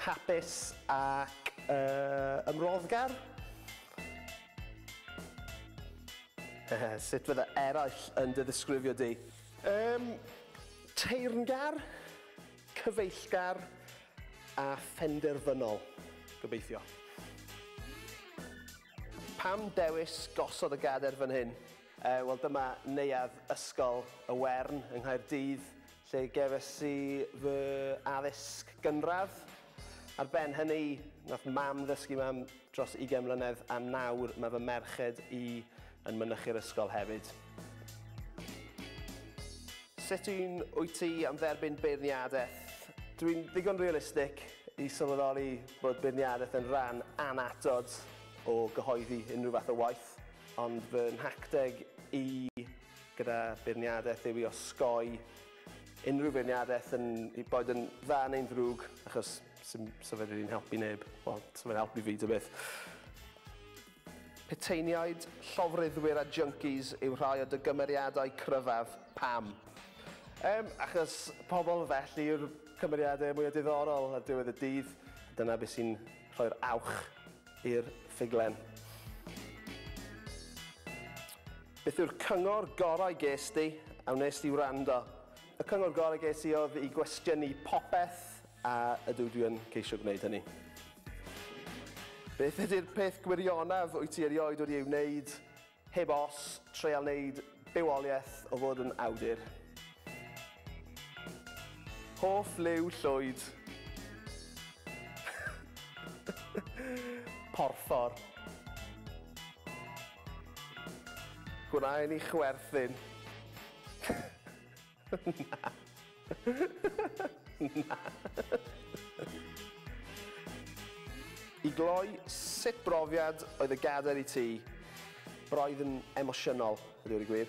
Hapus ac uh, ymroddgar? Sut fydda eraill yn dy ddisgrifio di? Um, teyrngar, cyfeillgar a phenderfynol, gobeithio. Pam dewis gosod y gader fan hyn? Uh, Wel dyma neuadd Ysgol y Wern yng Nghaerdydd, lle gefais i fy addysg gynradd. Ar ben hynny, nath Mam ddysgu fi am dros ugain mlynedd a nawr mae fy merched i yn mynychu'r ysgol hefyd. Sut un wyt ti am dderbyn beirniadaeth? Dwi'n ddigon realistig i sylweddoli bod beirniadaeth yn rhan annatod o gyhoeddi unrhyw fath o waith, ond fy nhacteg i gyda beirniadaeth yw i osgoi unrhyw feirniadaeth yn i boed yn dda neu'n ddrwg achos sy'n sa fe rili'n helpu neb wel sa fe'n helpu fi ta beth. Puteiniaid, llofruddwyr a junkies yw rhai o dy gymeriadau cryfaf, pam? Yym achos pobl felly yw'r cymeriadau mwya diddorol ar diwedd y dydd, dyna be sy'n rhoi'r awch i'r ffuglen. Beth yw'r cyngor gorau ges di a wnes di wrando? Y cyngor gorau ges i oedd i gwestiynu popeth a ydw dwi yn ceisio gwneud hynny. Beth ydy'r peth gwirionaf wyt ti erioed wedi ei wneud Heb os, treial wneud bywoliaeth o fod yn awdur. Hoff liw llwyd. Porffor. Gwna i ni chwerthin. Na. I gloi, sut brofiad oedd y gadair i ti? Roedd yn emosiynol, i ddweud y gwir.